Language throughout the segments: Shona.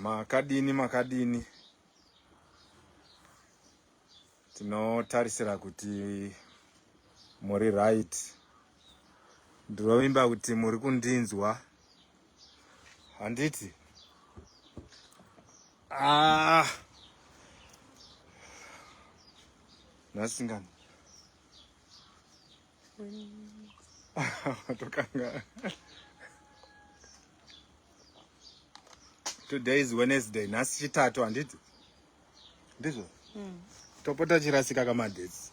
makadini makadini tinotarisira kuti muri right ndinovimba kuti muri kundinzwa handiti ah. nasingani tokanga today is wednesday nhasi chitatu handiti ndizvo mm. topota chirasika kamadetsi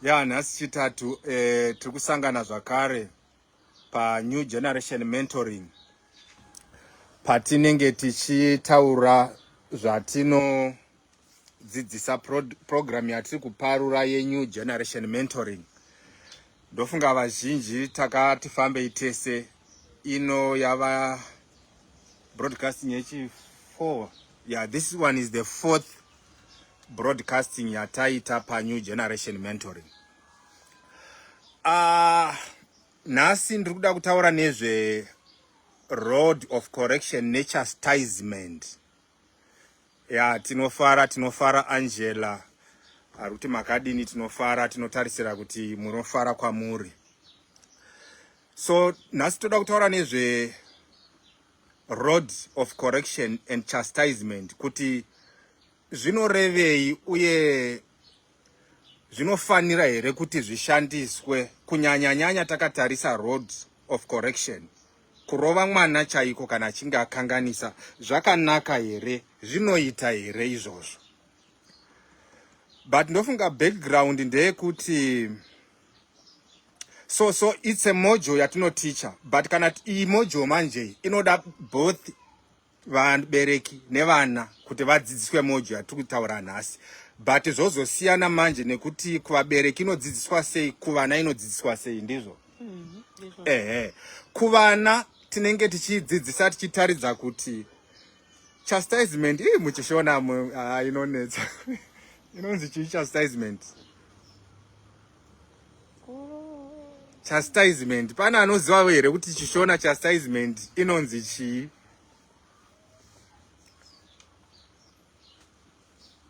ya nhasi chitatu e, tiri kusangana zvakare panew generation mentoring patinenge tichitaura zvatinodzidzisa pro, program yatiri kuparura yenew generation mentoring ndofunga vazhinji takati fambei tese ino yava broadcasting yechi 4 yeah this one is the fourth broadcasting yataita pa new generation mentoring uh, nhasi ndiri kuda kutaura nezve road of correction nechastisement ya tinofara tinofara angela ari kuti makadini tinofara tinotarisira kuti munofara kwamuri so nhasi toda kutaura nezve road of correction and chastisement kuti zvinorevei uye zvinofanira here kuti zvishandiswe kunyanyanyanya takatarisa road of correction kurova mwana chaiko kana achinge akanganisa zvakanaka here zvinoita here izvozvo but ndofunga background ndeyekuti so so it's a mojo yatinoticha but kana iyi mojo manje inoda both vabereki nevana kuti vadzidziswe mojo yatiri kutaura nhasi but zvozosiyana manje nekuti kuvabereki inodzidziswa sei kuvana inodzidziswa sei ndizvo mm -hmm. ehe kuvana tinenge tichidzidzisa tichitaridza kuti chastisement ii muchishona ah, inonetsa inonzi chii chastisement chastisement pane anoziva here kuti chishona chastisement inonzi chii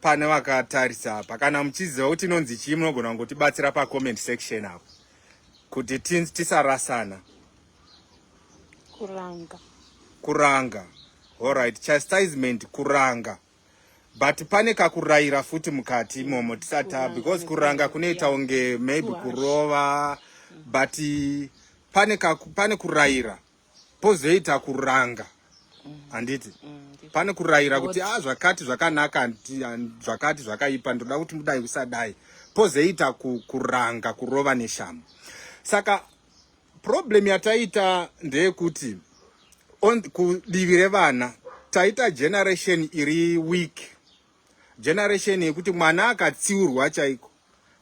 pane vakatarisa apa kana muchiziva kuti inonzi chii munogona kungotibatsira pacomment section apo kuti tisarasana kuranga kuranga allright chastisement kuranga but pane kakuraira futi mukati imomo tisata because kuranga kunoita unge maybe kurova but pane, kaku, pane kuraira pozoita kuranga handiti mm. mm pane kurayira kuti a ah, zvakati zvakanaka zvakati zvakaipa ndoda kuti mudai usadai pozoita kuranga kurova neshamu saka Problem yataita ndeyekuti kudivi revana taita generation iri weak, generation yekuti mwana akatsiurwa chaiko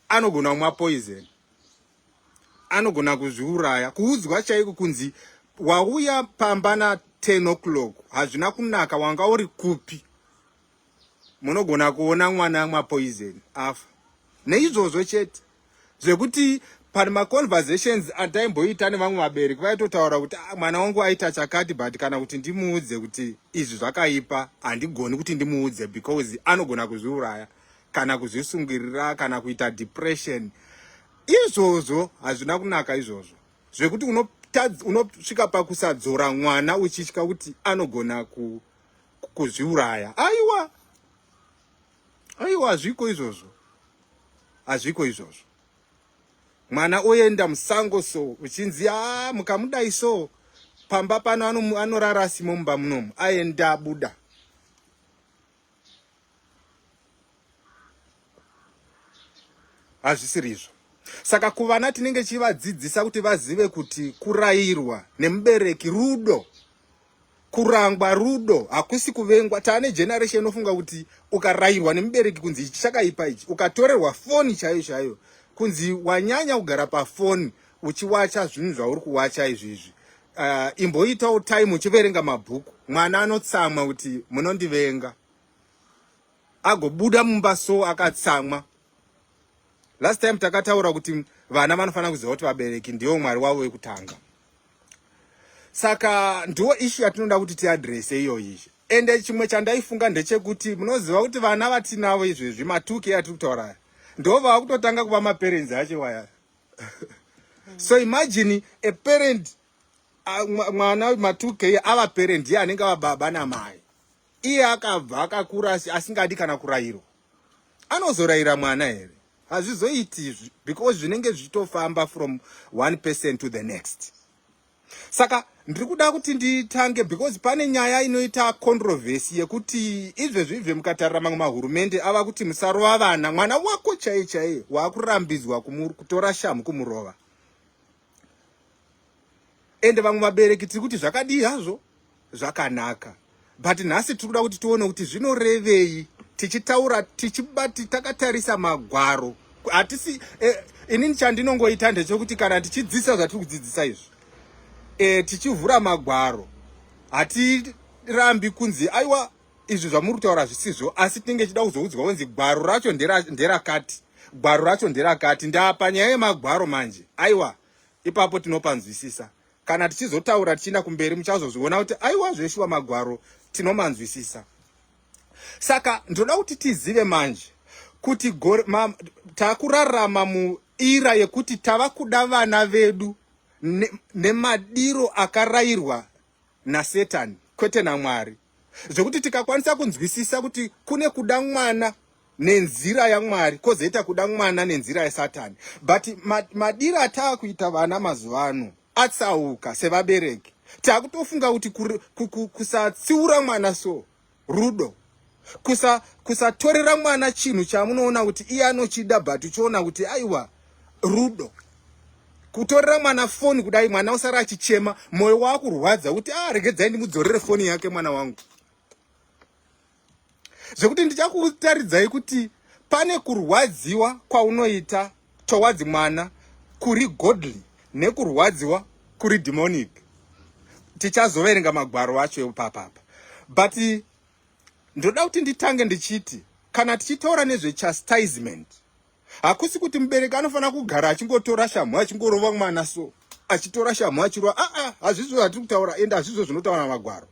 anogona kumwa poison, anogona kuzviuraya, kuudzwa chaiko kunzi wauya pamba na 10 o'clock hazvina kunaka, wanga uri kupi? munogona kuona mwana amwa poison afa neizvozvo chete zvekuti pane maconversations ataimboita nevamwe vabereki vaitotaura kuti ah, mwana wangu aita chakati but kana kuti ndimuudze kuti izvi zvakaipa handigoni kuti ndimuudze because anogona kuzviuraya kana kuzvisungirira kana kuita depression izvozvo hazvina kunaka izvozvo zvekuti unosvika pakusadzora mwana uchitya kuti anogona ku kuzviuraya aiwa aiwa hazviko izvozvo hazviko izvozvo mwana oenda musango so uchinzi a mukamudai so pamba pano anorara asimo mumba munomu aenda abuda hazvisirizvo saka kuvana tinenge chivadzidzisa kuti vazive kuti kurayirwa nemubereki rudo kurangwa rudo hakusi kuvengwa taane generation inofunga kuti ukarayirwa nemubereki kunzi ichi chakaipa ichi ukatorerwa foni chaiyo chaiyo kunzi wanyanya kugara pafoni uchiwacha zvinhu zvauri kuwacha izvi izvi uh, imboitawo time uchiverenga mabhuku mwana anotsamwa kuti munondivenga agobuda mumba so akatsamwa last time takataura kuti vana vanofanira kuziva kuti vabereki ndiwo mwari wavo wekutanga saka ndiwo ishu yatinoda kuti tiadrese iyoyi ende chimwe chandaifunga ndechekuti munoziva kuti vana vatinavo izvezvi matuki atiri kutaura ndo vava kutotanga kuva maparenzi acho waya so imagine a parent mwana matuki ava parent iye anenge ava baba namai iye akabva akakura asingadi kana kurayirwa anozorayira mwana here hazvizoiti izvi because zvinenge zvichitofamba from one person to the next saka ndiri kuda kuti nditange because pane nyaya inoita controversy yekuti izvezvi izve mukatarira mamwe mahurumende ava kuti musarova vana mwana wako chaiye chaiye waakurambidzwa kutora shamhu kumurova ende vamwe vabereki tiri kuti zvakadii hazvo zvakanaka but nhasi tiri kuda kuti tione kuti zvinorevei tichitaura tichibati takatarisa magwaro hatisi eh, inini chandinongoita ndechekuti kana tichidzidzisa zvatiri kudzidzisa izvi eh, tichivhura magwaro hatirambi kunzi aiwa izvi zvamuri kutaura hazvisizvo asi tinenge chida kuzoudzwa kunzi gwaro racho nderakati gwaro racho nderakati ndapa nyaya yemagwaro manje aiwa ipapo tinopanzwisisa kana tichizotaura tichienda kumberi muchazozviona kuti aiwa zveshuwa magwaro tinomanzwisisa saka ndinoda kuti tizive manje kuti takurarama muira yekuti tava kuda vana vedu nemadiro ne akarayirwa nasetani kwete namwari zvekuti tikakwanisa kunzwisisa kuti kune kuda mwana nenzira yamwari kozoita kuda mwana nenzira yesatani but madiro ataa kuita vana mazuva ano atsauka sevabereki takutofunga kuti kusatsiura mwana so rudo kusatorera kusa mwana chinhu chamunoona kuti iye anochida but uchiona kuti aiwa rudo kutorera mwana foni kudai mwana usara achichema moyo wakurwadza kuti ah regedzai ndimudzorere foni yake mwana wangu zvekuti ndichakutaridzai kuti pane kurwadziwa kwaunoita towards mwana kuri godly nekurwadziwa kuri demonic tichazoverenga magwaro acho epapapa but ndoda kuti nditange ndichiti kana tichitaura nezvechastisement hakusi kuti mubereki anofanira kugara achingotora shamhu achingorova mwana so achitora shamhu achirova aa ah, ah, hazvizvo zvatiri kutaura ende hazvizvo zvinotaura magwaro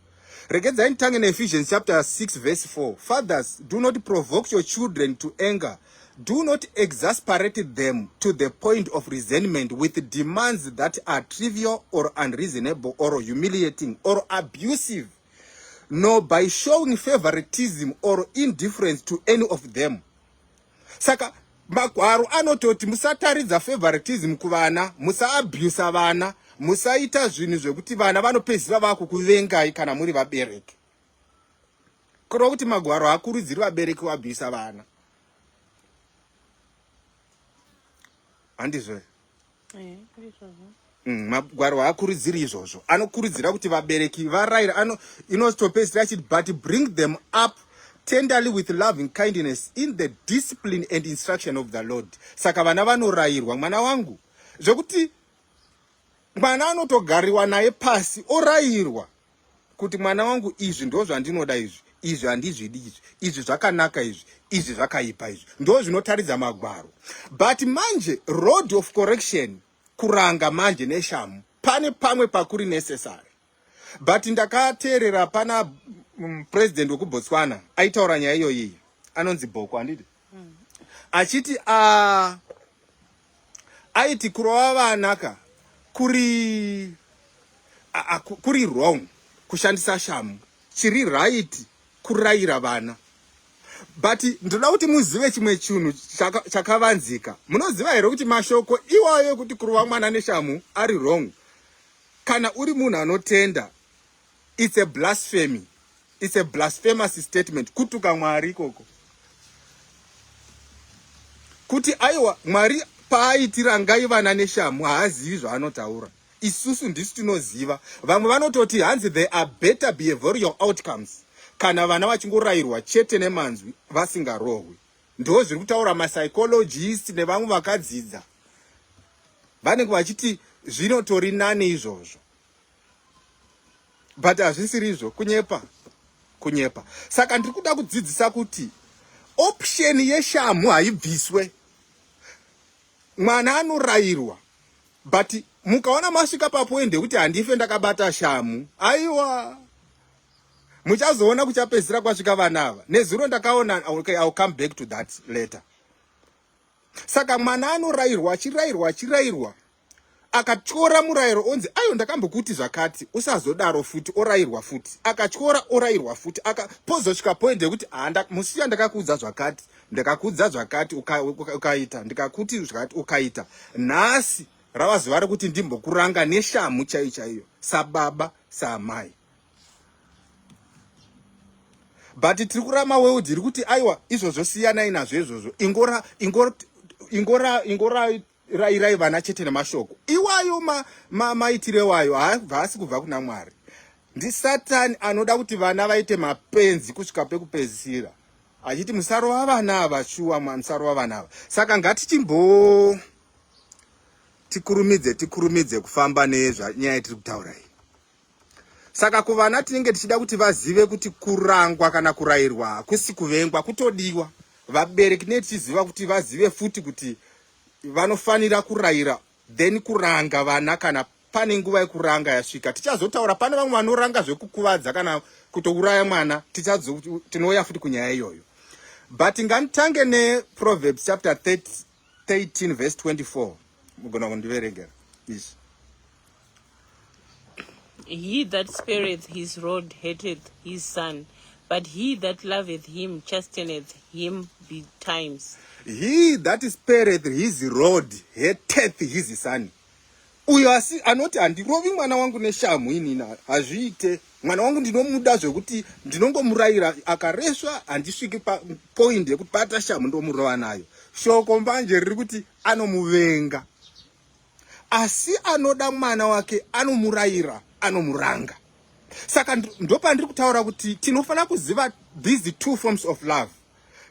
regedzai nditange neephesians chapter 6 verse 4 fathers do not provoke your children to anger do not exasperate them to the point of resentment with demands that are trivial or unreasonable or humiliating or abusive nor by showing favoritism or indifference to any of them saka magwaro anototi musataridza favoritism kuvana musaabusa vana musaita zvinhu zvekuti vana vanopedzisira vakukuvengai kana muri vabereki kureva kuti magwaro haakurudziri vabereki vabusa vana handizvo Mm, magwaro haakurudziri izvozvo anokurudzira kuti vabereki varayira ano inotopedzisira achiti but bring them up tenderly with loving kindness in the discipline and instruction of the lord saka vana vanorayirwa mwana wangu zvekuti mwana anotogariwa naye pasi orayirwa kuti mwana wangu izvi ndozvandinoda izvi izvi handizvidi izvi izvi zvakanaka izvi izvi zvakaipa izvi ndo zvinotaridza magwaro but manje road of correction kuranga manje neshamu pane pamwe pakuri necessary but ndakateerera pana mm, president wekubotswana aitaura nyaya iyoyiyi anonzi bhoko handiti hmm. achiti a ah, aiti kurova vana ka kuri a, kuri wrong kushandisa shamu chiri right kurayira vana but ndoda kuti muzive chimwe chinhu chakavanzika chaka munoziva here kuti mashoko iwayo ekuti kurova mwana neshamu ari wrong kana uri munhu anotenda It's a blasphemy. It's a blasphemous statement. Kutuka Mwari koko. Kuti aiwa Mwari paaitira ngai vana neshamu haazivi zvaanotaura. Isusu ndisu tinoziva. Vamwe vanototi hanzi there are better behavioral outcomes kana vana vachingorayirwa chete nemanzwi vasingarohwi. Ndoo zviri kutaura mapsychologist nevamwe vakadzidza. Vanenge vachiti zvinotori nani izvozvo. but hazvisirizvo kunyepa kunyepa saka ndiri kuda kudzidzisa kuti option yeshamhu haibviswe mwana anorayirwa but mukaona masvika papoindi yekuti handife ndakabata shamhu aiwa muchazoona kuchapedzisira kwasvika vana ava nezuro ndakaona okay, ill come back to that later saka mwana anorayirwa achirayirwa achirayirwa akatyora murayiro onzi ayo ndakambokuti zvakati usazodaro futi orayirwa futi akatyora orayirwa futi aka pozosvika point yekuti handa musiya ndakakuudza zvakati ndakakuudza zvakati ukaita uka, ndikakuti zvakati ukaita nhasi rava zuva rekuti ndimbokuranga neshamhu chaiyo chaiyo sababa saamai but tiri kurama world iri kuti aiwa izvozvo siyanai nazvo izvozvo ingora ingora ingora ingora rairai vana chete nemashoko iwayo maitiro ma, ma iwayo haasi kubva kuna mwari ndisatani anoda kuti vana vaite mapenzi kusvika pekupedzisira achiti musarova vana ava shuwa musarova vana ava saka ngatichimbo tikurumidze tikurumidze kufamba nezvanyaya tiri kutaura iyi saka kuvana tinenge tichida kuti vazive kuti kurangwa kana kurayirwa hakusi kuvengwa kutodiwa vabereki tinenge tichiziva kuti vazive futi kuti vanofanira kurayira then kuranga vana kana pane nguva yekuranga yasvika tichazotaura pane vamwe vanoranga zvekukuvadza kana kutouraya mwana tinouya futi kunyaya iyoyo but ngatitange neproverbs chapter 3 13 verse 24 mugona kundiveregera please he that spareth his rod hateth his son but he that loveth him chasteneth him betimes he that spareth his rod hateth his son uyo asi anoti handirovi mwana wangu neshamhu inina hazviite mwana wangu ndinomuda zvekuti ndinongomurayira akaresva handisviki papoindi yekuti bata shamhu ndomurova nayo shoko mbanje riri kuti anomuvenga asi anoda mwana wake anomurayira anomuranga saka ndopandiri kutaura kuti tinofanira kuziva these two forms of love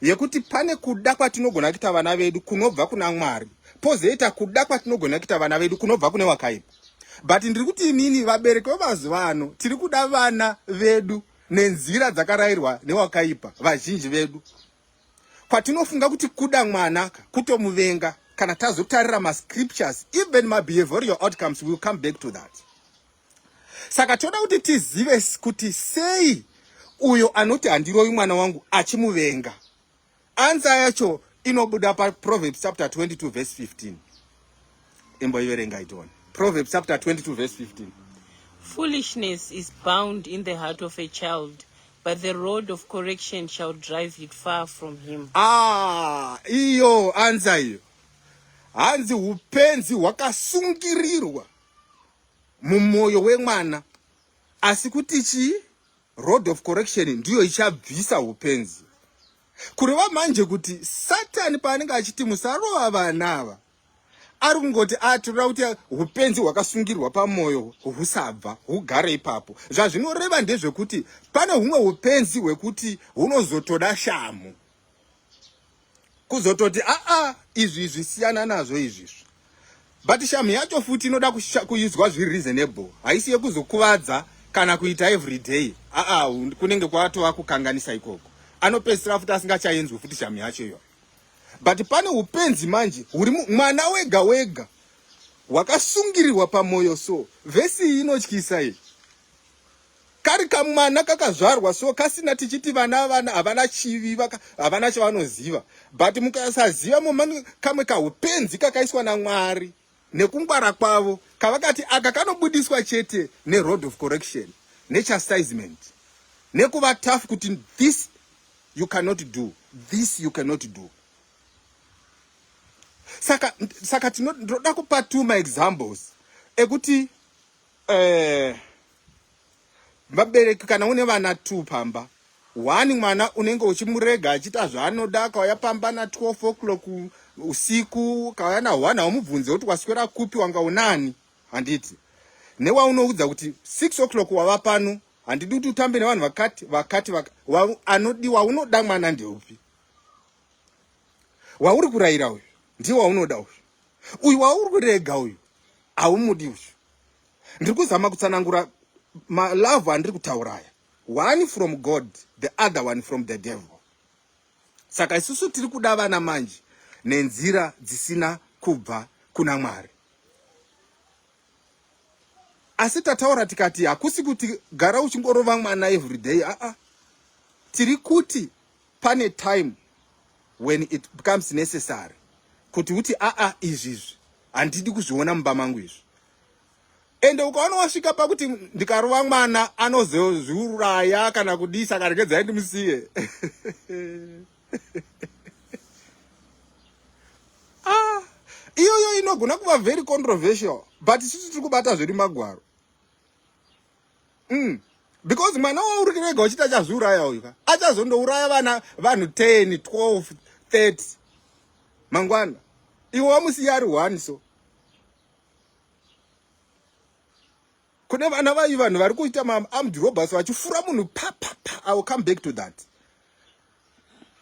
yekuti pane kuda kwatinogona kuita vana vedu kunobva kuna mwari pozoita kuda kwatinogona kuita vana vedu kunobva kune wakaipa but ndiri kuti inini vabereki vemazuva ano tiri kuda vana vedu nenzira dzakarayirwa newakaipa vazhinji vedu kwatinofunga kuti kuda mwana kutomuvenga kana tazotarira mascriptures even mabehavioral outcomes will come back to that saka toda kuti tizive kuti sei uyo anoti handiroyi mwana wangu achimuvenga ansa yacho inobuda paproverbs chapter 22 verse 15 imboiverenga itione proverbs chapter 22 verse 15 foolishness is bound in the heart of a child but the road of correction shall drive it far from him ah iyo anza iyo hanzi upenzi hwakasungirirwa mumoyo wemwana asi kuti chii road of correction ndiyo ichabvisa upenzi kureva manje kuti satani paanenge achiti musarova vana ava ari kungoti atirira ah, kuti upenzi hwakasungirwa pamwoyo husabva hugare ipapo zvazvinoreva ndezvekuti pane humwe upenzi hwekuti hunozotoda shamhu kuzototi aa ah, ah, izvi izvi siyana nazvo izvizvi but sham yacho futi inoda kuizwa zviri reasonable haisi yekuzokuvadza kana kuita every day aa ah, kunenge kwatova kukanganisa ikoko anopedzisira futi asingachaenzwi futi sham yacho iyoyo but pane upenzi manje huri mwana wega wega wakasungirirwa pamwoyo so vhesi iyi inotyisa iyi Kari kamwana kakazvarwa so kasina tichiti vana vana havana chivi havana chavanoziva but mukasaziva momani kamwe kaupenzi kakaiswa naMwari nekungwara kwavo kavakati aka kanobudiswa chete neroad of correction nechastisement nekuva tough kuti this you cannot do this you cannot do saka saka tinoda kupa two maexamples ekuti Eh, vabereki kana une vana two pamba one mwana unenge uchimurega achiita zvaanoda akauya pamba na 12 o'clock usiku ukauya na one haumubvunze kuti waswera kupi wanga unani handiti newaunoudza kuti six o'clock wava pano handidi kuti utambe nevanhu vakati vakati vaka, wa, anodiwa unoda mwana ndeupi wauri kurayira uyu ndiye waunoda uyu uyu wauri kurega uyu haumudi uyu ndiri kuzama kutsanangura malove andiri kutauraya one from god the other one from the devil saka isusu tiri kuda vana manje nenzira dzisina kubva kuna mwari asi tataura tikati hakusi kuti gara uchingorova mwana everyday aa ah, ah. tiri kuti pane time when it becomes necessary kuti uti aa ah, izvizvi handidi kuzviona mumba mangu izvi ende ukaona wasvika pakuti ndikarova mwana anozozviuraya kana kudii saka regedzai ndimusiye ah, iyoyo inogona kuva very controversial but isusu tiri kubata zviri magwaro mm. because mwana wauri kurega uchiti achazviuraya uyu ka achazondouraya vana vanhu 10 12 30 mangwana iwe wamusiya ari one so kune vana vayi vanhu vari kuita maarmed robbers vachifura munhu papapa i will come back to that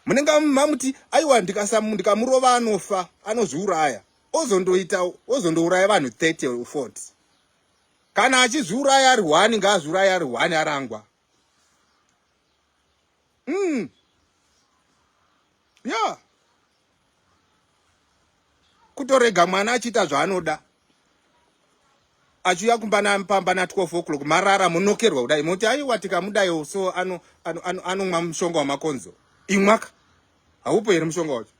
munenge mamuti aiwa ndikamurova anofa anozviuraya ozondoita ozondouraya vanhu 30 or 40 kana achizviuraya ari hwani ngaazviuraya ari hwani arangwa mm. yeah. kutorega mwana achiita zvaanoda achiuya kumba napamba na 12 o'clock marara munokerwa kudai moti aiwa tikamudayo so anomwa ano, ano, ano mushonga wamakonzo imwaka haupo here mushonga wacho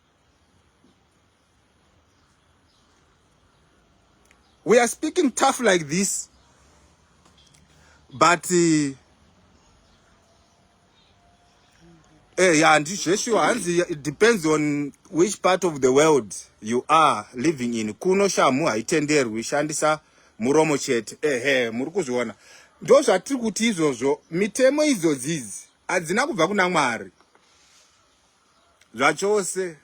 we are speaking tough like this but uh, eh, yeah, and zveshuwa hanzi it depends on which part of the world you are living in kuno shamhu haitenderwi shandisa muromo chete ehe muri kuzviona ndo zvatiri kuti izvozvo mitemo idzodzizi hadzina kubva kuna mwari zvachose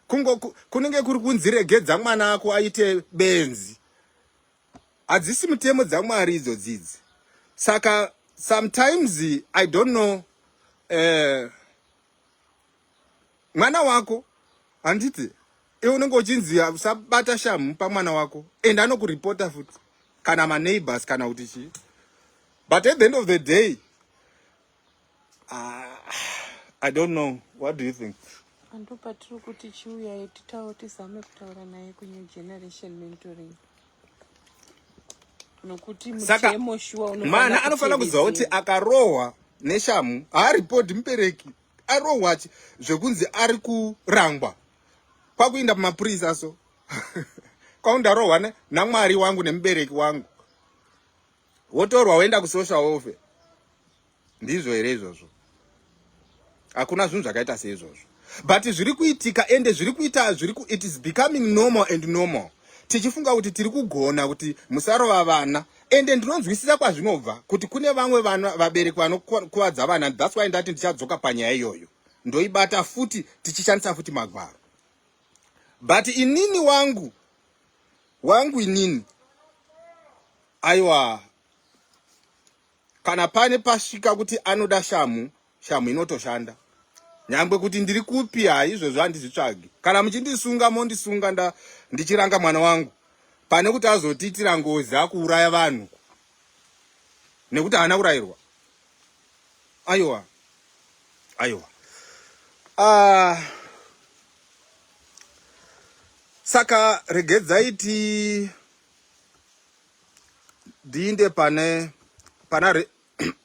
kungo kunenge kuri kunzi regedza mwana ako aite benzi hadzisi mutemo dzamwari idzo dzidzi saka sometimes i don't know uh, mwana wako handiti iwe unenge uchinzi usabata shamhu pamwana wako and anokuripota futi kana maneighbors kana kuti chii but at the end of the day Ah, I don't know. What do you think? Andopa tiri kuti chiuyayi titawo tizame kutaura naye kunew generation mentoring nokuti mutemo shuwa mwana anofanira kuziva kuti akarohwa neshamu haaripodi mubereki arohwa chi zvekunzi ari kurangwa kwakuinda pamapurisa so kwaundarohwa namwari wangu nemubereki wangu wotorwa woenda kusocial welfare ndizvo here izvozvo hakuna zvinhu zvakaita seizvozvo but zviri kuitika ende zviri kuita zviri ku it is becoming normal and normal tichifunga kuti tiri kugona kuti musarova vana ende ndinonzwisisa kwazvinobva kuti kune vamwe vana vabereki vanokuvadza vana thats why ndati ndichadzoka panyaya iyoyo ndoibata futi tichishandisa futi magwaro but inini wangu wangu inini aiwa kana pane pasvika kuti anoda shamhu shamhu inotoshanda nyangwe kuti ndiri kupi haizvozvo handizvitsvagi kana muchindisunga mondisunga nda ndichiranga mwana wangu pane kuti azotiitira ngozi akuuraya vanhu nekuti haana kurayirwa Aiwa. Aiwa. Ah. Saka regedzai ti diinde pane pana re,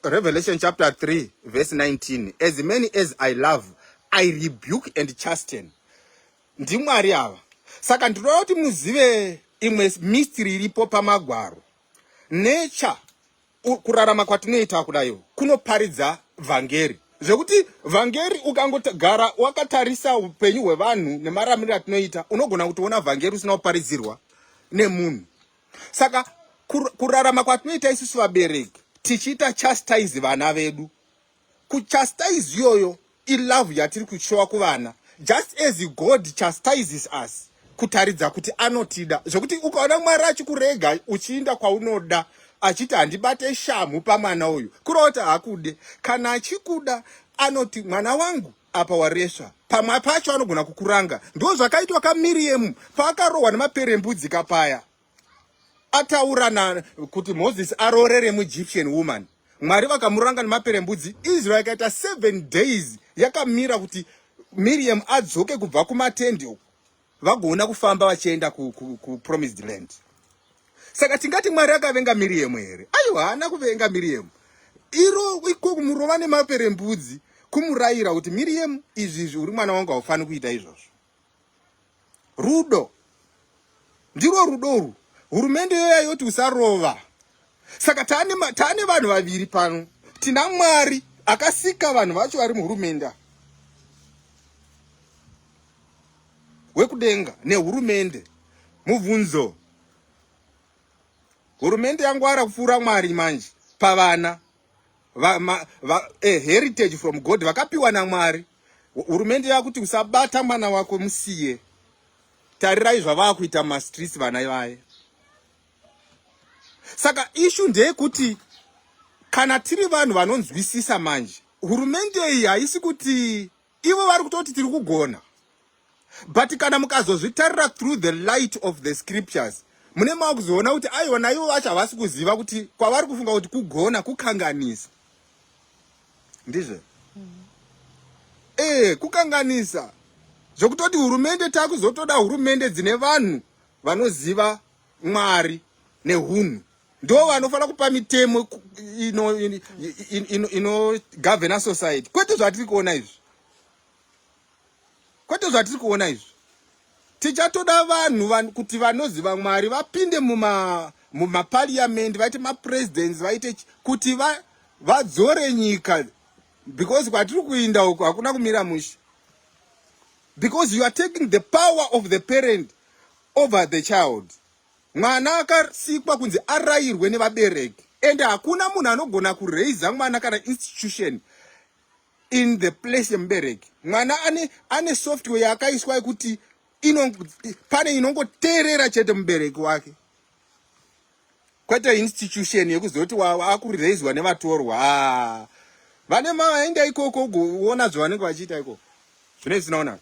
Revelation chapter 3 verse 19 as many as I love I rebuke and chasten. NdiMwari ava. Saka ndinoda kuti muzive imwe mystery iripo pamagwaro. Nature Kurarama kwatinoita kudaiwo kunoparidza vhangeri zvekuti vhangeri ukangogara wakatarisa upenyu hwevanhu nemaramiriro atinoita unogona kutoona vhangeri usina kuparidzirwa nemunhu saka kurarama kwatinoita isusu vabereki tichiita chastise vana vedu kuchastise iyoyo ilove yatiri kushowa kuvana just as god chastises us kutaridza kuti anotida zvekuti ukaona mwari achikurega uchiinda kwaunoda achiti handibate shamhu pamwana uyu kureva kuti haakude kana achikuda anoti mwana wangu apa waresva pamwe pacho anogona kukuranga ndo zvakaitwa kamiriyemu paakarohwa nemaperembudzi kapaya ataura na kuti moses aroorere muegyptian woman mwari vakamuranga nemaperembudzi israel ikaita seven days yakamira kuti miriam adzoke kubva kumatendi uku vagoona kufamba vachienda kupromised ku, ku land saka tingati mwari akavenga miriam here aiwa haana kuvenga miriam iro iko kumurova nemaperembudzi kumurayira kuti miriam izvi izvi uri mwana wangu haufaniri kuita izvozvo rudo ndirwo rudo urwu hurumende yoya yoti usarova saka taane taane vanhu vaviri pano tina mwari akasika vanhu vacho vari muhurumende wekudenga nehurumende mubvunzo hurumende yangwara kupfuura mwari manje pavana va, ma, va, a heritage from god vakapiwa namwari hurumende yakuti usabata mwana wako musiye tarirai zvavakuita mumastreets vana ivaye saka ishu ndeyekuti kana tiri vanhu vanonzwisisa manje hurumende iyi haisi kuti ivo vari kutoti tiri kugona but kana mukazozvitarira through the light of the scriptures mune mava kuzoona kuti aiwa naivo vacho havasi kuziva kuti kwavari kufunga kuti kugona kukanganisa ndizve ee eh, kukanganisa zvokutoti hurumende takuzotoda hurumende dzine vanhu vanoziva mwari nehunhu ndo vanofanira kupa mitemo inogovhena society kwete zvatiri kuona izvi kwete zvatiri kuona izvi tichatoda vanhu kuti vanoziva mwari vapinde mumapariamendi vaite mapresidents vaite kuti vadzore nyika because kwatiri kuinda uku hakuna kumira mushe because you are taking the power of the parent over the child Mwana akasikwa kunzi arayirwe nevabereki and hakuna munhu anogona kuraiza mwana kana institution in the place yemubereki. Mwana ane, ane software yaakaiswa yekuti ino, pane inongoteerera chete mubereki wake kwete institution yekuzoti akuraiswa nevatorwa ah. vane maenda ikoko ugoona zvavanenge vachiita ikoko zvine zvisinaonaka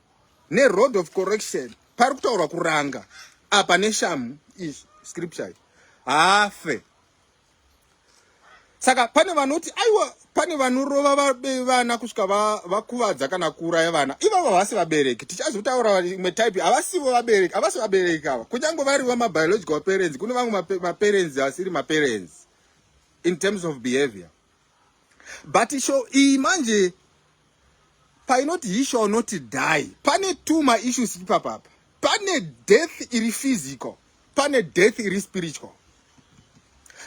neroad of correction pari kutaurwa kuranga apa neshamu izvi scripture hafe saka pane vanoti aiwa pane vanorova vabe vana kusvika vakuvadza kana kuuraya vana ivavo havasi vabereki tichazotaura imwe type havasivo vabereki havasi vabereki ava kunyange varivo mabiological parents kune vamwe maparents asiri maparents in terms of behavior but show iyi manje painoti he shall not die pane two maissues ipapapa pane death iri physical pane death iri spiritual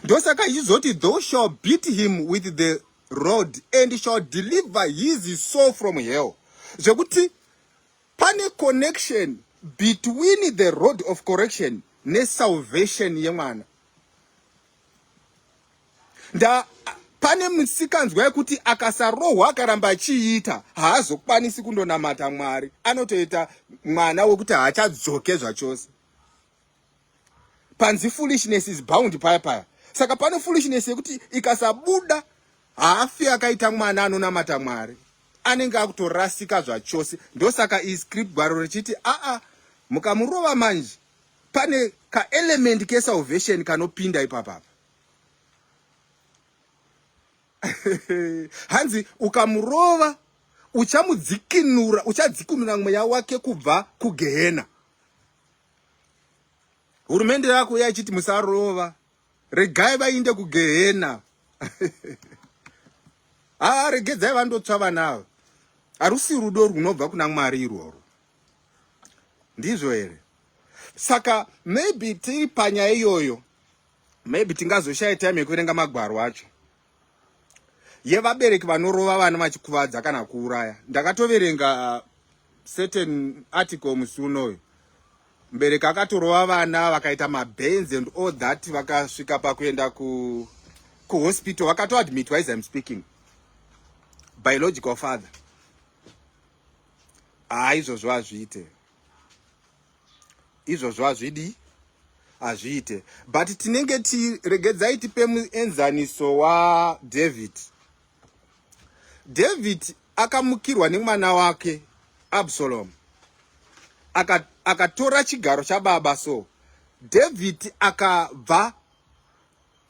ndosaka ichizoti thou shall beat him with the rod and shall deliver his soul from hell zvekuti pane connection between the road of correction nesalvation yemwana nda pane musikanzwa yekuti akasarohwa akaramba achiita haazokwanisi kundonamata mwari anotoita mwana wekuti haachadzoke zvachose panzi foolishness is bound paya paya saka pane foolishness yekuti ikasabuda haafi akaita mwana anonamata mwari anenge akutorasika zvachose ndosaka iscript gwaro richiti aa mukamurova manje pane ka element ke salvation kanopinda ipapa apa hanzi ukamurova uchamudzikinura uchadzikinura mweya wake kubva kugehena hurumende yako yaichiti musarova regai vainde kugehena haa ah, regedzai vandotswa vana ava harusi rudo rwunobva kuna mwari irworwo ndizvo here saka maybe tiri panyaya iyoyo maybe tingazoshaya time yekuverenga magwaro acho yevabereki vanorova vana vachikuvadza kana kuuraya ndakatoverenga uh, certain article musi unoyu mbereki akatorova vana vakaita mabands and all that vakasvika pakuenda ku kuhospital vakatoadmitwa as im speaking biological father haa izvozvo hazviite izvozvo hazvidi hazviite but tinenge tiregedzai tipe muenzaniso wadavid david akamukirwa nemwana wake absalomu akatora aka chigaro chababa so david akabva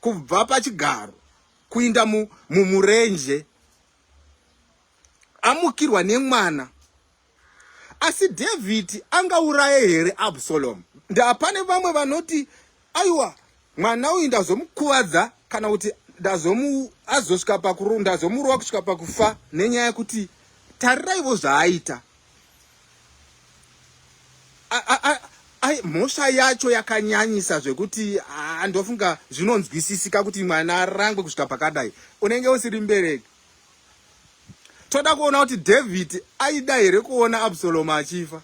kubva pachigaro kuinda mumurenje mu, amukirwa nemwana asi dhavhidhi angauraye here absalomu ndapane vamwe vanoti aiwa mwana uyu ndazomukuvadza kana kuti azosvika pakurunda azomurova kusvika pakufa nenyaya yekuti tariraivo zvaaita mhosva yacho yakanyanyisa zvekuti ndofunga zvinonzwisisika kuti mwana arangwe kusvika pakadai unenge usiri mbereki toda kuona kuti david aida here kuona absalomu achifa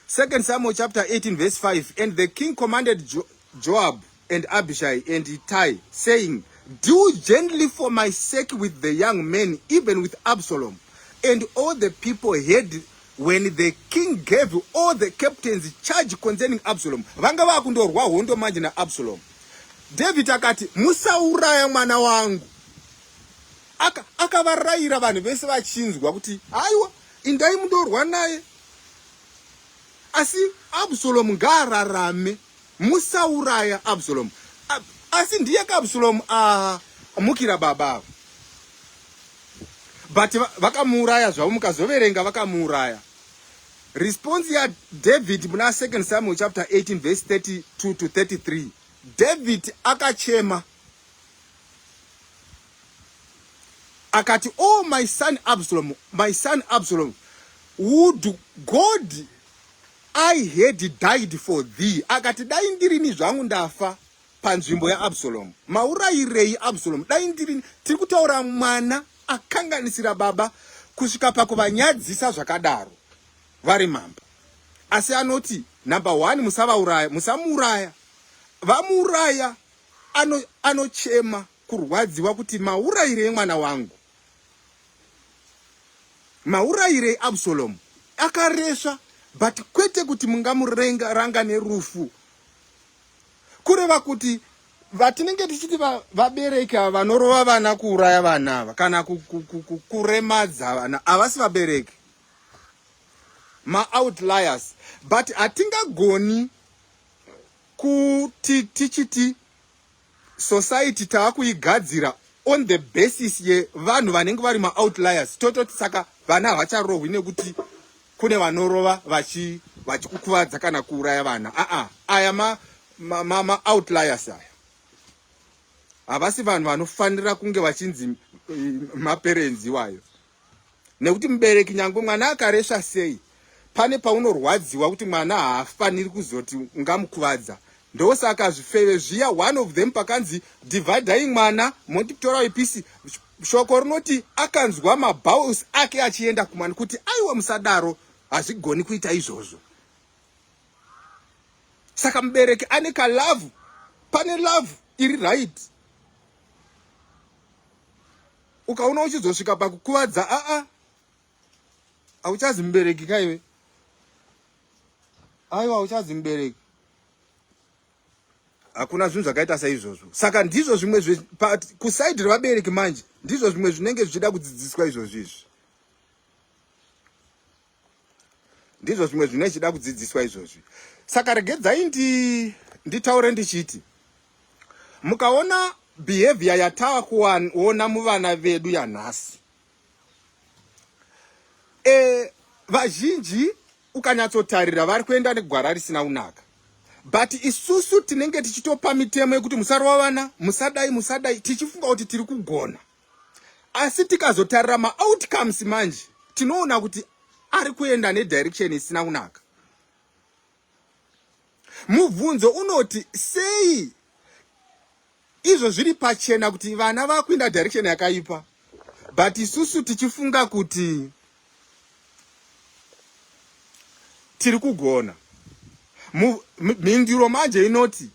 second samuel chapter 18 verse 5 and the king commanded jo joab and Abishai and Ittai, saying, Deal gently for my sake with the young men, even with Absalom. And all the people heard when the king gave all the captains charge concerning Absalom. Vanga vakundorwa hondo manje na Absalom. David akati, musauraya mwana wangu. Aka akavarayira vanhu vese vachinzwa kuti, aiwa, indai mundorwa naye. Asi Absalom ngaararame. Musauraya Absalom. A, asi ndiye ka Absalom a mukira baba ava. But vakamuuraya zvavo mukazoverenga vakamuuraya. Response ya David muna 2 Samuel chapter 18 verse 32 to 33. David akachema. Akati, "Oh my son Absalom, my son Absalom, would God I had died for thee akati dai ndirini zvangu ndafa panzvimbo yaabsalomu maurayirei absalomu dai ndirini tiri kutaura mwana akanganisira baba kusvika pakuvanyadzisa zvakadaro vari mambo asi anoti number one musavauraya musamuuraya vamuuraya anochema ano kurwadziwa kuti maurayirei mwana wangu maurayirei absalomu akaresva but kwete kuti mungamurenga ranga nerufu kureva kuti vatinenge tichiti vabereki ava vanorova vana kuuraya vana ava kana kuremadza vana havasi vabereki maoutliers but hatingagoni kuti tichiti society taakuigadzira on the basis yevanhu vanenge vari maoutliers tototi saka vana havacharohwi nekuti kune vanorova vachikukuvadza kana kuuraya vana aa aya maoutliers aya havasi vanhu vanofanira kunge vachinzi eh, maperenzi iwayo nekuti mubereki nyangwe mwana akaresva sei pane paunorwadziwa kuti mwana haafaniri kuzoti ungamukuvadza ndosaka zvifeve zviya one of them pakanzi dividai mwana motitora wepisi shoko rinoti akanzwa mabaus ake achienda kumwana kuti aiwa musadaro hazvigoni kuita izvozvo saka mubereki ane kalavhu pane lavhu iri right ukaona uchizosvika pakukuvadza aa hauchazi mubereki kaiwe aiwa hauchazi mubereki hakuna zvinhu zvakaita saizvozvo saka ndizvo zvimwe kusaidi revabereki manje ndizvo zvimwe zvinenge zvichida kudzidziswa izvozvo izvi ndizvo zvimwe zvine chida kudzidziswa izvozvi saka regedzai ndi nditaure ndichiti mukaona behavior yatava kuona muvana vedu yanhasi e, vazhinji ukanyatsotarira vari kuenda negwara risina kunaka but isusu tinenge tichitopa mitemo yekuti musarova vana musadai musadai tichifunga kuti tiri kugona asi tikazotarira maoutcomes manje tinoona kuti ari kuenda nedirection isina kunaka mubvunzo unoti sei izvo zviri pachena kuti vana vakuinda direction yakaipa but isusu tichifunga kuti tiri kugona mhinduro manje inoti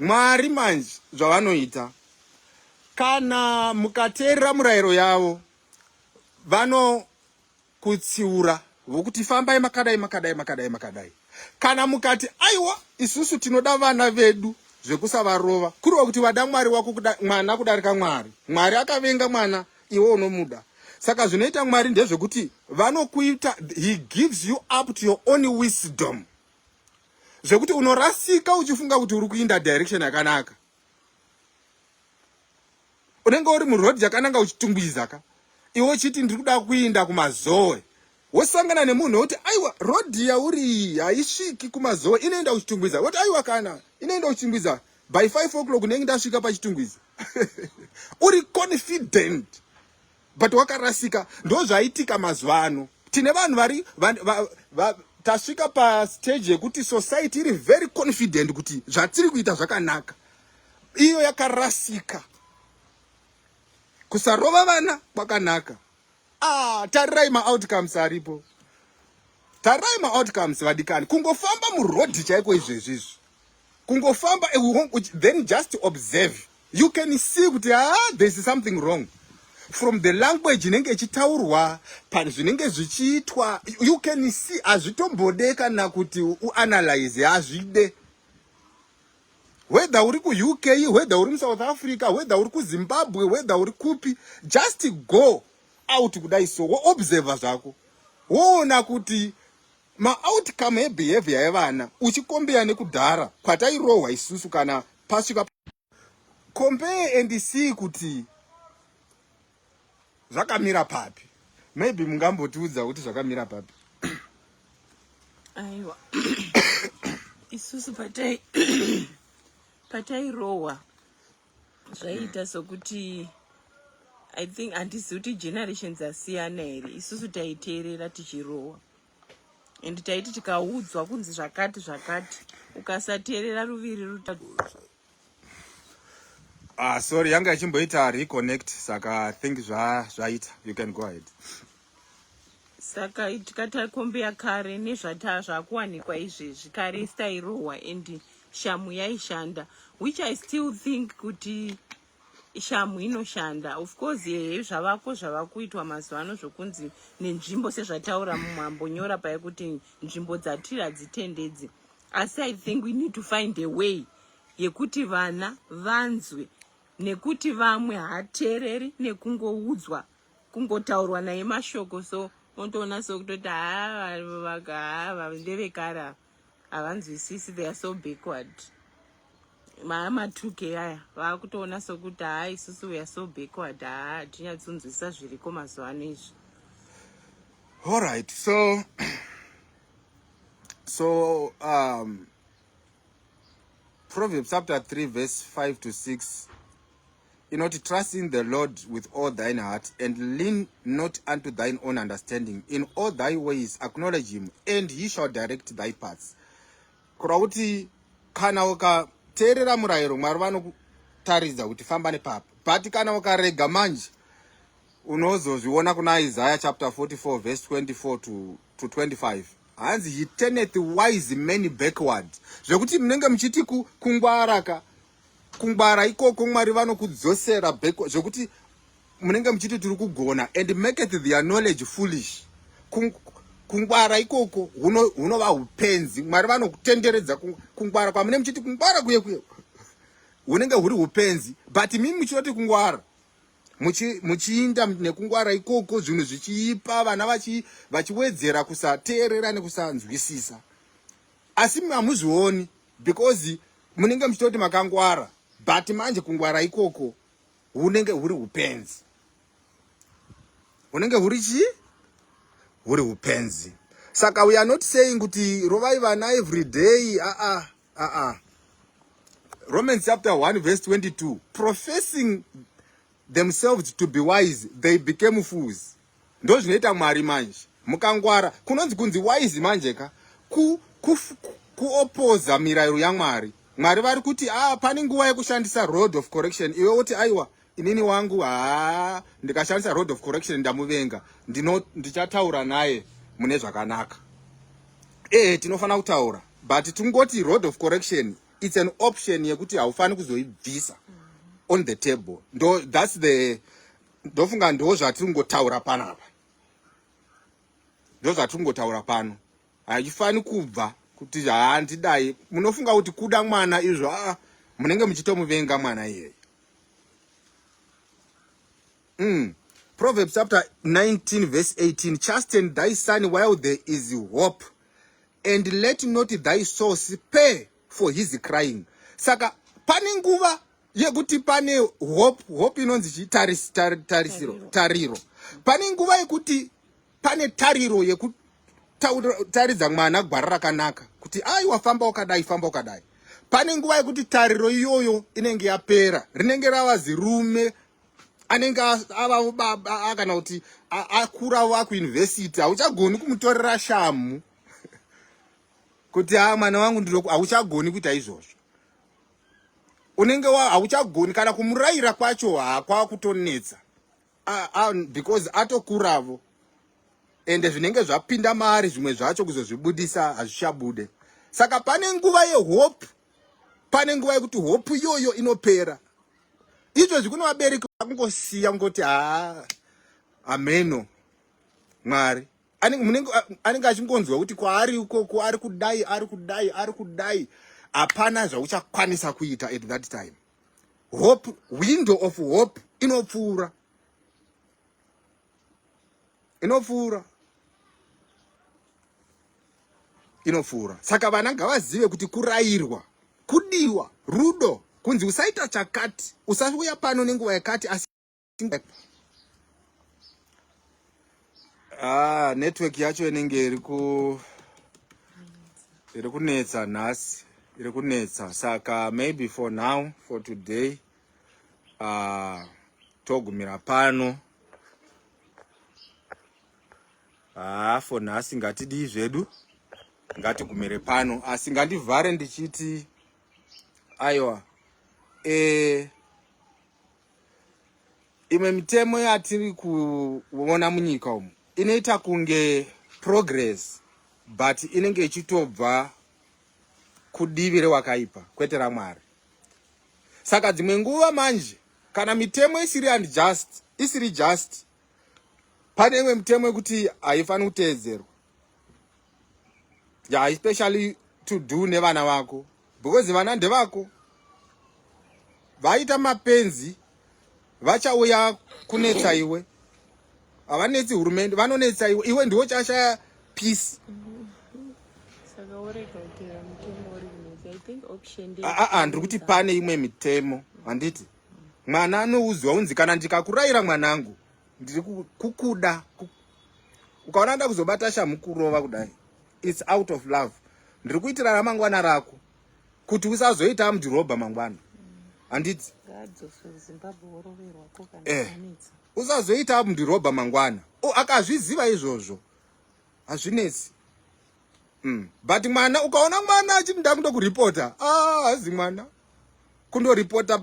Mwari manje zvavanoita kana mukateerera murayiro yavo vanokutsiura vokuti fambai makadai makadai makadai makadai kana mukati aiwa isusu tinoda vana vedu zvekusavarova kuriwa kuti vada mwari wako kuda, mwana kudarika mwari mwari akavenga mwana iwe unomuda saka zvinoita mwari ndezvekuti vanokuita he gives you up to your own wisdom zvekuti unorasika uchifunga kuti uri kuinda direction yakanaka unenge uri muroad yakananga uchitungwiza ka iwe uchiti ndiri kuda kuinda kumazoe wosangana nemunhu wekuti aiwa road yauri iyi haisviki kumazoe inoenda kuchitungwiza woti aiwa kana inoenda kuchitungwiza by five o'clock unenge ndasvika pachitungwiza uri confident but wakarasika ndozvaitika mazuva ano tine vanhu vari tasvika pastage yekuti society iri very confident kuti zvatiri kuita zvakanaka iyo yakarasika kusarova vana kwakanaka ah, tarirai maoutcomes aripo tarirai maoutcomes vadikani kungofamba murodhi chaiko izvezvi izvi kungofamba then just observe you can see kuti ah there is something wrong from the language inenge ichitaurwa pari zvinenge zvichiitwa you can see hazvitombode kana kuti uanalyze hazvide whether uri kuuk whether uri musouth africa whether uri kuzimbabwe whether uri kupi just go out kudai so woobserva zvako woona kuti Ma outcome e behavior yevana uchikombea nekudhara kwatairohwa isusu kana pasvika compare and see kuti zvakamira papi maybe mungambotiudza kuti zvakamira papi aiwa isusu patai patairohwa zvaiita sokuti i think handisi kuti generations asiyana here isusu taiteerera tichirohwa and taiti tikaudzwa kunzi zvakati zvakati ukasateerera ruviri ruta ah sorry yanga ichimboita reconnect saka think zvaita you can go ahead saka tikatakombea kare nezvataa zvakuwanikwa izvezvi kare stairohwa and shamu yaishanda which i still think kuti shamhu inoshanda of course yeye zvavako zvavakuitwa mazuva ano zvokunzi nenzvimbo sezvataura mumwe ambonyora paye kuti nzvimbo dzatiri hadzitendedzi asi i think we need to find a way yekuti vana vanzwe nekuti vamwe hateereri nekungoudzwa kungotaurwa naye mashoko so otoona sokutoti haa ndevekare ava havanzwisisi they are so backward maya matuke aya vaakutoona sokuti haa isusu we are so backward haa hatinyatsonzwisisa zviriko mazuva ano izvi all right so so um, proverbs chapter 3 verse 5 to 6 inoti trust in the lord with all thine heart and lean not unto thine own understanding in all thy ways acknowledge him and he shall direct thy paths kureva kuti kana ukateerera murayiro mwari vanokutaridza kuti famba nepapa but kana ukarega manje unozozviona kuna isaya chapter 44 verse 24 to, to 25 hanzi he turneth wise many backward zvekuti munenge muchiti kungwaraka ku kungwara ikoko mwari vanokudzosera back zvekuti munenge muchiti tiri kugona and make it their knowledge foolish kungwara ikoko hunova upenzi mwari vanokutenderedza kungwara kwamune muchiti kungwara kuye kuye hunenge huri upenzi but mimi muchinoti kungwara muchiinda nekungwara ikoko zvinhu zvichiipa vana vachiwedzera kusateerera nekusanzwisisa asi hamuzvioni because munenge muchitoti makangwara but manje kungwara ikoko hunenge huri upenzi hunenge huri chii huri upenzi saka we are not saying kuti rovai vana every day aa ah, aa ah, ah, romans chapter 1 verse 22 professing themselves to be wise they became fools Ndozvinoita Mwari manje. Mukangwara kunonzi kunzi wise manje ka. Ku ku kuopoza mirayiro yaMwari. Mwari vari kuti ah pane nguva yekushandisa road of correction iwe woti aiwa inini wangu haa ndikashandisa road of correction ndamuvenga ndino ndichataura naye mune zvakanaka. Eh tinofanira kutaura but tingoti road of correction it's an option yekuti haufani kuzoibvisa on the table. Ndo that's the ndofunga ndo zvatiri kungotaura pano apa ndo zvatiri kungotaura pano hachifani kubva kuti handidai munofunga kuti kuda mwana izvo aa munenge muchitomuvenga mwana iyeye mm. proverbs chapter 19 verse 18 chasten thy son while there is hope and let not thy soul spare for his crying saka pane nguva yekuti pane hope hope inonzi chii taris, tar, tarisiro tariro. tariro pane nguva yekuti pane tariro yekutaridza mwana gwara rakanaka kuti ai wafamba wakadai famba wakadai pane nguva yekuti tariro iyoyo inenge yapera rinenge rava zirume anenge avavo baba kana kuti akuravo akuuniversity hauchagoni kumutorera shamhu kuti a mwana wangu ndiro hauchagoni kuita izvozvo unenge hauchagoni kana kumurayira kwacho hakwava kutonetsa because atokuravo ende zvinenge zvapinda maari zvimwe zvacho kuzozvibudisa hazvichabude saka pane nguva yehope pane nguva yekuti hope iyoyo inopera izvozvi kune vabereki vakungosiya kungoti haa ameno mwari anenge achingonzwa kuti kwaari ikoko ari kudai ari kudai ari kudai hapana zvauchakwanisa kuita at that time hope window of hope inopfuura inopfuura inopfuura saka vana ngavazive kuti kurayirwa kudiwa rudo kunzi usaita chakati usauya pano nenguva yakati asi Ah, network yacho inenge iri ku iri kunetsa nhasi iri kunetsa saka maybe for now for today uh, togumira pano haa ah, for nhasi ngatidii zvedu ngatigumire pano asi ngandivhare ndichiti aiwa e, imwe mitemo yatiri kuona munyika umu inoita kunge progress but inenge ichitobva kudivi rewakaipa kwete ramwari saka dzimwe nguva manje kana mitemo isiri and just isiri just pane imwe mitemo yekuti haifaniri kuteedzerwa ya yeah, especially to do nevana vako because vana ndevako vaita mapenzi vachauya kunetsa iwe havanetsi hurumende vanonetsa iwe iwe ndiwo chashaya peace aa ndiri kuti pane imwe mitemo handiti mwana anoudzwa unzi kana ndikakurayira mwanangu ndiri kukuda ukaona nda kuzobata shamhu kurova kudai its out of love ndiri kuitira ramangwana rako kuti usazoita mudhirobha mangwana handiti eh, usazoita mudhirobha mangwana akazviziva izvozvo hazvinetsi mm. but mwana ukaona mwana achiti ndakundo kuripota ah, hazi mwana kundoripota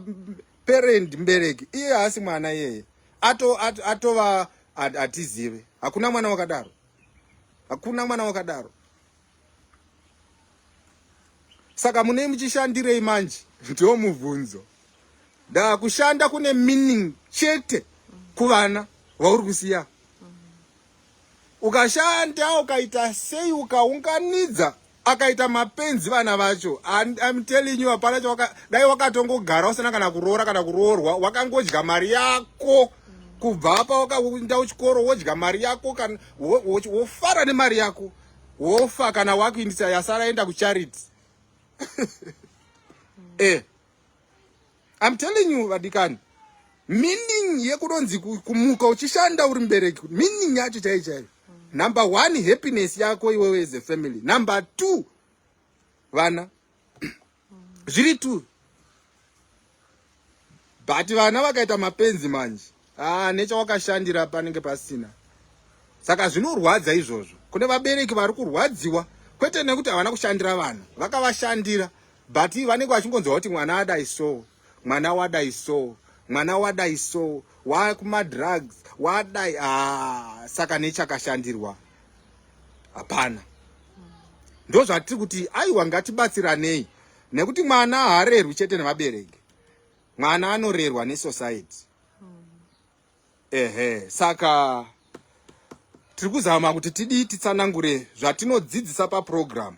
parent mbereki iye haasi mwana iyeye atova ato, ato atizive hakuna mwana wakadaro hakuna mwana wakadaro saka munei muchishandirei manje ndiwo mubvunzo da kushanda kune meaning chete kuvana vauri kusiya ukashanda ukaita sei ukaunganidza akaita mapenzi vana vacho I'm telling you hapana chawaka dai wakatongogara usina kana kuroora kana kuroorwa wakangodya mari yako kubva apa wakaenda kuchikoro wodya mari yako kana wofara nemari yako wofa kana wakuindisa yasara enda kucharity eh I'm telling you vadikani meaning yekunonzi kumuka uchishanda uri mubereki meaning yacho chai chaiyo number one happiness yako iwewe as a family number two vana zviri two but vana vakaita mapenzi manje haa ah, nechawakashandira panenge pasina saka zvinorwadza izvozvo kune vabereki vari kurwadziwa kwete nekuti havana kushandira vanhu vakavashandira but vanenge vachingonzwa kuti mwana adai so mwana wadai so mwana wadai so wakumadrugs wadai haa ah, saka nechakashandirwa hapana ndo zvatiri kuti aiwa ngatibatsiranei nekuti mwana haarerwi chete nevabereki mwana anorerwa nesociety hmm. ehe saka tiri kuzama kuti tidii titsanangure zvatinodzidzisa paprogramu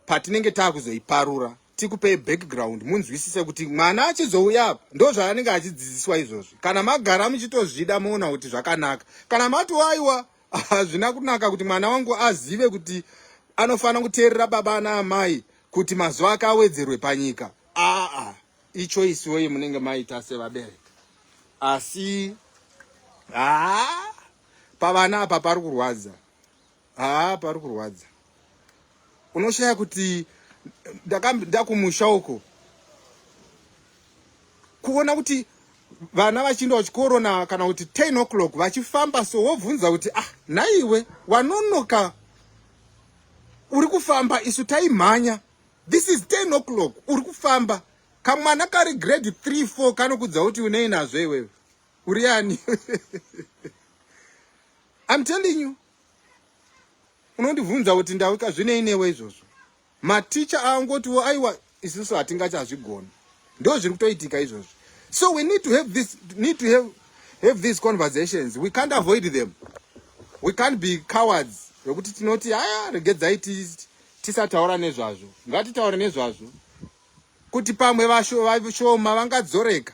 patinenge taakuzoiparura tikupei background munzwisise kuti mwana achizouya apa ndo zvaanenge achidzidziswa izvozvi kana magara muchitozvida moona kuti zvakanaka kana matoaiwa hazvina kunaka kuti mwana wangu azive kuti anofanira kuteerera baba ana amai kuti mazuva ake awedzerwe panyika aa ichoice yoyi munenge maita sevabereki asi haa pavana apa pari kurwadza haa pari kurwadza unoshaya kuti ndakumusha uko kuona kuti vana vachiinda kuchikoro na kana kuti 10 o'clock vachifamba so wobvunza kuti ah naiwe wanonoka uri kufamba isu taimhanya this is 10 o'clock uri kufamba kamwana kari grade 3 4 kanokudza kuti unei nazvo iwewe uri ani im telling you unondibvunza kuti ndawika zvinei newe izvozvo maticha aangotiwo aiwa isiso hatingachazvigoni ndo zviri kutoitika izvozvo so we need to have this need to have, have these conversations we can't avoid them we can't be cowards vekuti tinoti aya regedzai tisataura nezvazvo ngatitaure nezvazvo kuti pamwe vashoma vangadzoreka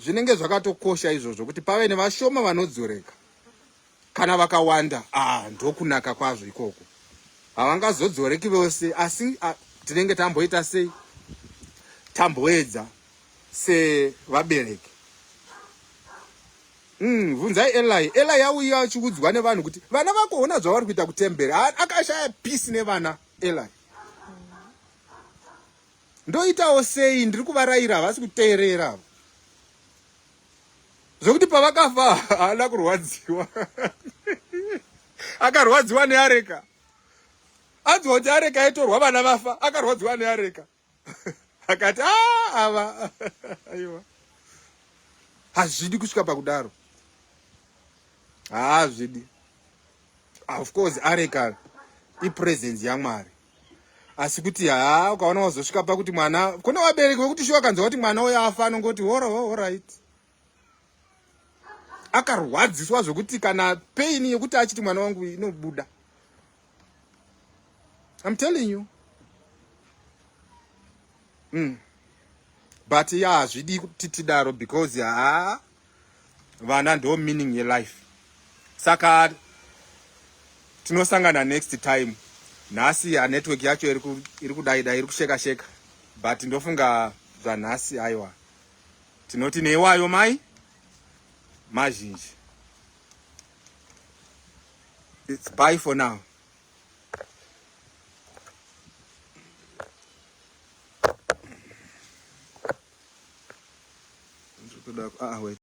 zvinenge zvakatokosha izvozvo kuti pave nevashoma vanodzoreka kana vakawanda ah, ndokunaka kwazvo ikoko havangazodzoreki vose asi ah, tinenge tamboita sei tamboedza sevabereki Umm vunzai Eli, Eli auya achiudzwa nevanhu kuti vana vako hona zvavari kuita kutemberi. Akashaya peace nevana Eli. Ndoitawo sei ndiri kuvaraira havasi kuteerera avo. Zvokuti pavakafa haana kurwadziwa. Akarwadziwa neareka. Anzwa kuti areka yatorwa vana vafa, akarwadziwa neareka. akati ah, ava aiwa hazvidi kusvika pakudaro haazvidi of course areka ipresence yamwari asi kuti haa ukaona wazosvika pakuti mwana kune vabereki vekuti shuwa kanzi wati mwana uyo afa anongoti horo horit akarwadziswa zvekuti kana pain yekuti achiti mwana wangu inobuda I'm telling you mm. but ya hazvidi kuti tidaro because haa vana ndo meaning yelife saka tinosangana next time nhasi ya network yacho iri kudaidai iri kusheka sheka but ndofunga zvanhasi aiwa Tinoti neiwayo mai mazhinji. It's bye for now. Ah, wait.